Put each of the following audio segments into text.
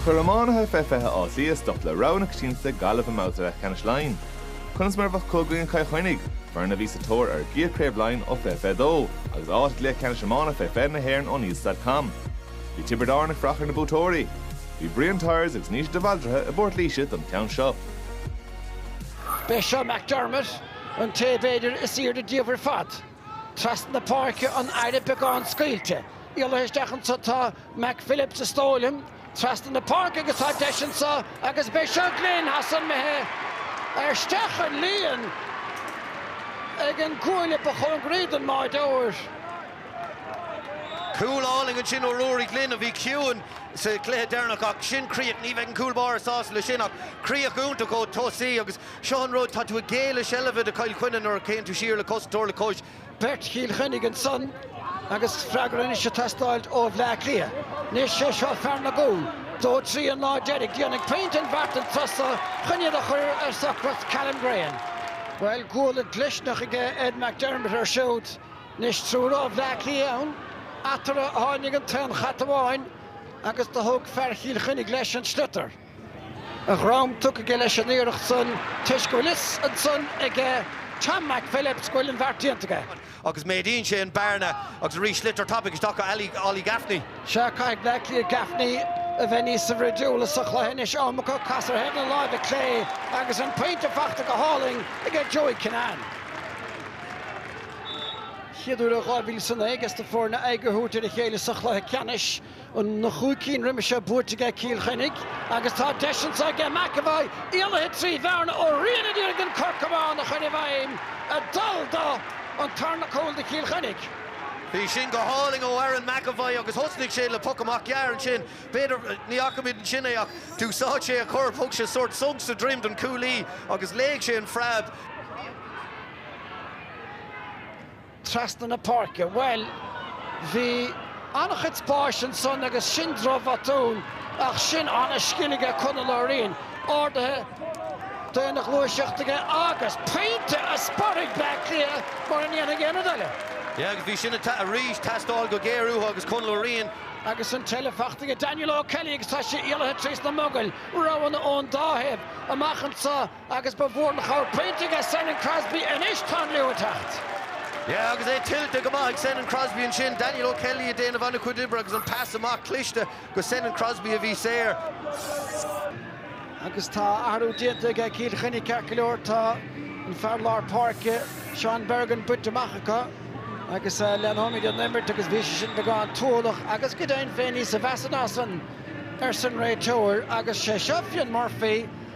Chuir iománaithe fé 20 Áth Cliath stop le rogha na coitianta Gaillimh i mbabhta leathcheannais Laighean. Conas mar a bheadh i gcoinne Chill Chainnigh, foireann a bhí sa tóir ar a gcéad Chraobh Laighean ó 2022 agus áit i gCluiche Ceannais Iomána fé 20 na hÉireann O'Neills.com. Bhí Tiobraid Árann ag feitheamh ar na buaiteoirí. Bhí Brian Tyers agus Naoise De Bhaldraithe i bPort Laoise don cheann seo. B'é seo McDermott, an té b'fhéidir is aoirde díobh ar fad. Trasna na páirce anoir, beagán scaoilte. Eile isteach anso tá Mac Phillips a sa stól aige trasna na páirce agus tá deis anso agus b'é seo Glynn théis an bheith isteach sa líon ag an gcuaille ba chóngaraí don mbádóir. Cúl álainn ansin ó Ruairí Glynn a bhí ciúin sa gcluiche deireanach ach sin críoch ní bheidh an cúl báire sásta le sin ach críoch iontach ón tosaí agus Seo an rud, tá tú ag géilleadh seilbh do Chill Chainnigh nuair a théann tú siar le cosantóir le cos. Beirt Chill Chainnigh ansan agus freagra anois ag teastáilt ó Bhleá Cliath. Anois sé seo fear na gcúl. Dó trí an lá deiridh. Déanfaidh pointe an bheart an turas so chun iad a chur ar socracht Callum Graham. Bhuel, cúl dlisteanach aige Ed McDermott ar siúd. Anois triúr ó Bhleá Cliath ann. Eatarthu a tháinig an t-aon chat amháin agus do thóg fear Chill Chainnigh leis an sliotar. a dhrom tugtha aige leis an iarracht san toisc go bhfuil fhios ansan ag Tom Mhac Phillips go bhfuil an bheart déanta aige. Agus méadaíonn sé an bearna agus arís sliotar tapaidh isteach go Ollie Gaffney. Sea, caithfidh Bleá Cliath Gaffney a bheith níos bhruidiúla sa chluiche anois, am acu casadh ar thaobh na láimhe clé agus an pointe fachta go hálainn aige Joey Kinnane. Chéad uair ó 2009 aiges na foirne aghaidh a thabhairt ar a chéile sa chluiche ceannais. Na chúig cinn roimhe seo buaite aige Cill Chainnigh agus tá deis anso aige. McEvoy éalaithe trí bhearna Ó Riain a d'iarraidh an corcán a chur i bhfeidhm a dul do an tarna cúl do Chill Chainnigh. Bhí sin go hálainn ó Aaron McEvoy agus thosnaigh sé le poc amach gearr ansin. B'fhéidir, ní fhacaimid ansin é ach d'úsáid sé a chorp, thug sé sórt sonc sa droim don cúlaí agus léigh sé an phreab. trasna na páirce. Bhuel, bhí an-chuid spáis ansan agus sin droch-bhotún ach sin an-scil aige Conall Ó Riain, ardaithe d'aon ghluaiseacht aige agus pointe a sporfaidh Bleá Cliath mura ndéanfaidh aon rud eile. Yeah agus bhí sin arís teastáil go géar uathu agus Conall Ó Riain. Agus an eile fachta aige Daniel O'Kelly agus tá sé éalaithe trís na mogaill, roghanna ón dá thaobh amach anso. Agus ba mhór an chabhair pointe aige Senan Crosby anois tá an liú ag teacht. Yeah agus é tuillte go maith ag Senan Crosby ansin, Daniel O Kelly ag déanamh ana chuid oibre agus an pas amach cliste go Senan Crosby a bhí saor. Agus tá athrú déanta aige Cill Chainnigh ceart go leor, tá an fear lár páirce Seán Bergin bainte amach acu agus leanfaimíd an imirt agus bhí sé sin beagán tuathalach agus go deimhin féin níosa mheasa ná san arsan réiteoir agus sé seo Fionn Murphy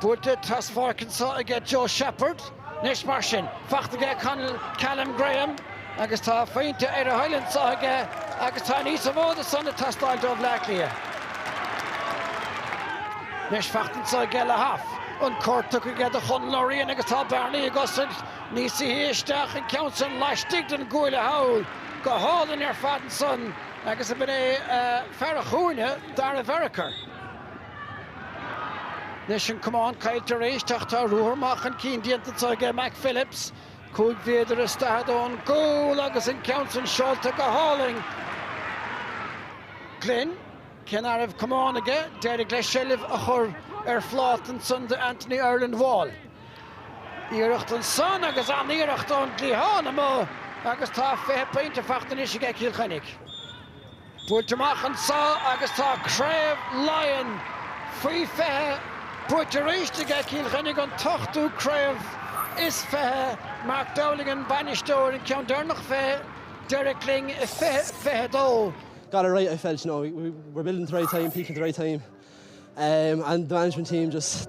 Buailte traspháirc annso aige Joe Sheppard anois mar sin. Faighte aige Conall Callum Graham agus tá a phointe ar a thoil annso aige agus tá níosa mhó de san ag teastáil ó Bhleá Cliath anois. Faighte annso aige Lehiff. An cor tugtha aige do Chonall O Riain agus tá bearnaí ag oscailt anois. Sáite isteach an ceann san laistigh den gcuaille thall go hálainn ar fad annsan agus b'in é fear a chúinne, Dara Varakar. Anois an camán caillte arís ach tá ruathar maith chun cinn déanta anseo aige Mac Phillips. Cúig mhéadar is daichead ón gcúl agus an ceann sin seolta go hálainn. Glynn, cé ná raibh camán aige, d'éirigh leis seilbh a chur ar phláta ansan do Anthony Ireland Wall. Iarracht ansan agus an-iarracht ón gcliathán amuigh agus tá fiche pointe faighte anois aige Cill Chainnigh. buailte amach annso agus tá Craobh Laighean faoi 20 buaite aríst aige Cill Chainnigh an t-ochtú craobh is fiche, Mark Dowling an bainisteoir, an ceann deireanach fé Derek Lyng i 2022. Got it right I felt, you know, we were building at the right time, peaking at the right time and the management team just.